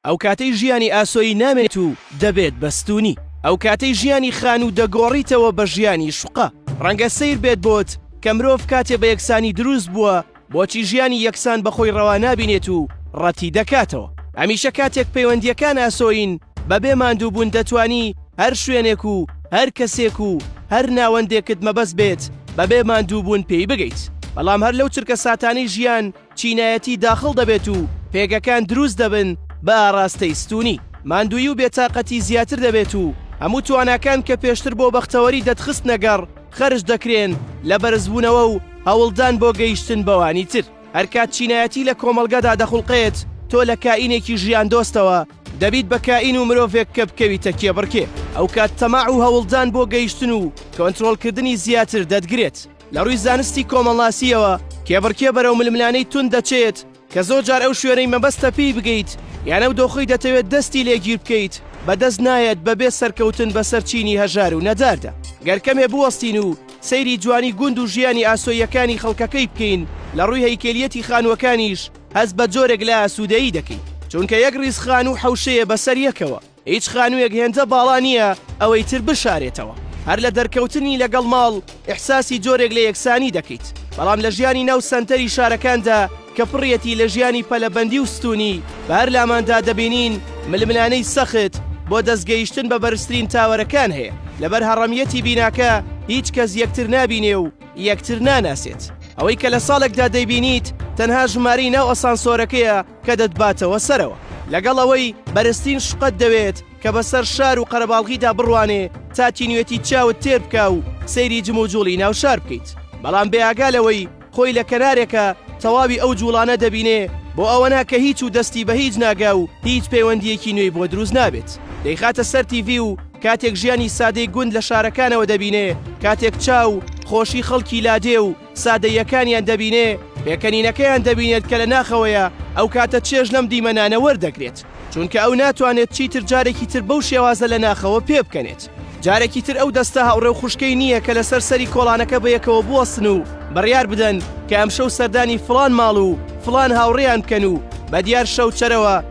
ئەو کاتەی ژیانی ئاسۆیی نامێنێت و دەبێت بە ستوونی. ئەو کاتەی ژیانی خانوو دەگۆڕیتەوە بە ژیانی شوقە. ڕەنگە سەیر بێت بۆت کە مرۆڤ کاتێ بە یەکسانی دروست بووە، بۆچی ژیانی یەکسان بە خۆی ڕەوا نابینێت و ڕەتی دەکاتەوە. هەمیشە کاتێک پەیوەندییەکان ئاسۆیین، بەبێ ماندووبوون دەتوانی هەر شوێنێک و هەر کەسێک و هەر ناوەندێکت مەبەست بێت بەبێ ماندووبوون پێی بگەیت. بەڵام هەر لەو چرکەساتانەی ژیان، چینایەتی داخڵ دەبێت و پێگەکان دروست دەبن بە ئاڕاستەی ستوونی. ماندوویی و بێتاقەتی زیاتر دەبێت و هەموو تواناکان کە پێشتر بۆ بەختەوەری دەتخستنە گەڕ خەرج دەکرێن لە بەرزبوونەوە و هەوڵدان بۆ گەیشتن بەوانی تر. هەرکات چینایەتی لە کۆمەڵگەدا دەخوڵقێت، تۆ لە کائینێکی ژیاندۆستەوە دەبیت بە کائین و مرۆڤێک کە بکەویتە کێبڕکێ. ئەوکات تەماع و هەوڵدان بۆ گەیشتن و کۆنترۆڵکردنی زیاتر دەتگرێت. لە ڕووی زانستی کۆمەڵناسییەوە کێبڕکێ بەرەو ململانەی تون دەچێت کە زۆر جار ئەو شوێنەی مەبەستە پێی بگەیت یان ئەو دۆخی دەتەوێت دەستی لێگیر بکەیت بەدەست نایەت بەبێ سەرکەوتن بەسەر چینی هەژار و نەداردا گەر کەمێ بوەستین و سەیری جوانی گوند و ژیانی ئاسۆیەکانی خەڵکەکەی بکەین لە ڕووی هەیکەلیەتی خانووەکانیش هەست بە جۆرێک لە ئاسوودەیی دەکەین چونکە یەک ڕیزخان و حەوشەیە بەسەر یەکەوە هیچ خانوویەک هێندە باڵا نییە ئەوەی تر بشارێتەوە، هەر لە دەرکەوتنی لەگەڵ ماڵ ئیحساسی جۆرێک لە یەکسانی دەکەیت، بەڵام لە ژیانی ناو سەنتەری شارەکاندا کە پڕیەتی لە ژیانی پەلەبەندی و ستوونی، بە هەر لاماندا دەبینین ململانێی سەخت بۆ دەست گەیشتن بە بەرزترین تاوەرەکان هەیە، لەبەر هەڕەمیەتی بیناکە هیچ کەس یەکتر نابینێ و یەکتر ناناسێت، ئەوەی کە لە ساڵێکدا دەیبینیت تەنها ژمارەی ناو ئەسانسۆرەکەیە، کە دەتباتەوە سەرەوە. لەگەڵ ئەوەی بەرزترین شوقەت دەوێت کە بەسەر شار و قەرەباڵغیدا بڕوانێ تا تینوێتی چاوت تێر بکا و سەیری جموجوڵی ناو شار بکەیت بەڵام بێ ئاگا لەوەی خۆی لە کەنارێکە تەواوی ئەو جوڵانە دەبینێ بۆ ئەوە نا کە هیچ و دەستی بە هیچ ناگا و هیچ پەیوەندییەکی نوێی بۆ دروست نابێت دەیخاتە سەر تیڤی و کاتێک ژیانی سادەی گوند لە شارەکانەوە دەبینێ کاتێک چاو خۆشی خەڵکی لادێ و سادەییەکانیان دەبینێ، پێکەنینەکەیان دەبینێت کە لە ناخەوەیە، ئەو کاتە چێژ لەم دیمەنانە وەردەگرێت، چونکە ئەو ناتوانێت چیتر جارێکی تر بەو شێوازە لە ناخەوە پێبکەنێت. جارێکی تر ئەو دەستە هاوڕێ و خوشکەی نییە کە لەسەر سەری کۆڵانەکە بەیەکەوە بوەستن و بڕیار بدەن کە ئەمشەو سەردانی فڵان ماڵ و فڵان هاوڕێیان بکەن و بەدیار شەوچەرەوە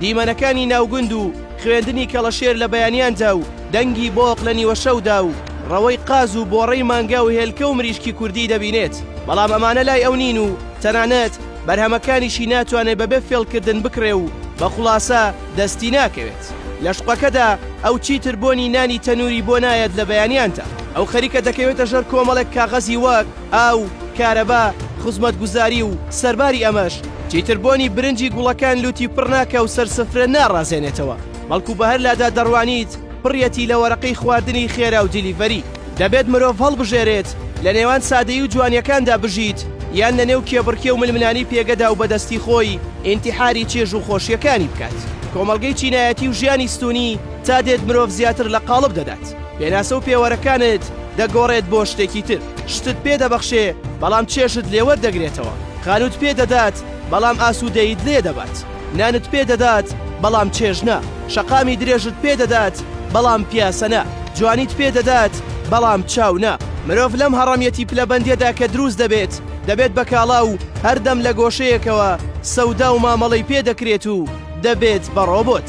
دیمەنەکانی ناوگوند و خوێندنی کەڵەشێر لە بەیانیاندا و دەنگی بۆق لە نیوەشەودا و ڕەوەی قاز و بۆڕەی مانگا و هێلکە و مریشکی کوردی دەبینێت بەڵام ئەمانە لای ئەو نین و تەنانەت بەرهەمەکانیشی ناتوانێت بەبێ فێڵکردن بکڕێ و بە خوڵاسە دەستی ناکەوێت لە شوقەکەدا ئەو چیتر بۆنی نانی تەنووری بۆ نایەت لە بەیانیاندا ئەو خەریکە دەکەوێتە ژەر کۆمەڵێک کاغەزی وەک ئاو، کارەبا، خزمەتگوزاری و سەرباری ئەمەش، چیتر بۆنی برنجی گوڵەکان لووتی پڕ ناکا و سەر سفرە ناڕازێنێتەوە، بەڵکو بە هەر لادا دەڕوانیت پڕیەتی لە وەرەقەی خواردنی خێرا و دیلیڤەری. دەبێت مرۆڤ هەڵبژێرێت لە نێوان سادەیی و جوانیەکاندا بژیت یان لە نێو کێبڕکێ و ململانی پێگەدا و بە دەستی خۆی ئینتیحاری چێژ و خۆشیەکانی بکات. کۆمەڵگەی چینایەتی و ژیانی ستوونی تا دێت مرۆڤ زیاتر لە قاڵب دەدات. پێناسە و پێوەرەکانت دەگۆڕێت بۆ شتێکی تر. شتت پێ دەبەخشێ، بەڵام چێژت لێ وەردەگرێتەوە. خانووت پێ دەدات، بەڵام ئاسوودەییت لێ دەبات. نانت پێ دەدات، بەڵام چێژ نا. شەقامی درێژت پێ دەدات، بەڵام پیاسە نا. جوانیت پێ دەدات، بەڵام چاو نا. مرۆڤ لەم هەڕەمیەتی پلەبەندیەدا کە دروست دەبێت، دەبێت بە کاڵا و هەردەم لە گۆشەیەکەوە سەودا و مامەڵەی پێ دەکرێت و دەبێت بە ڕۆبۆت.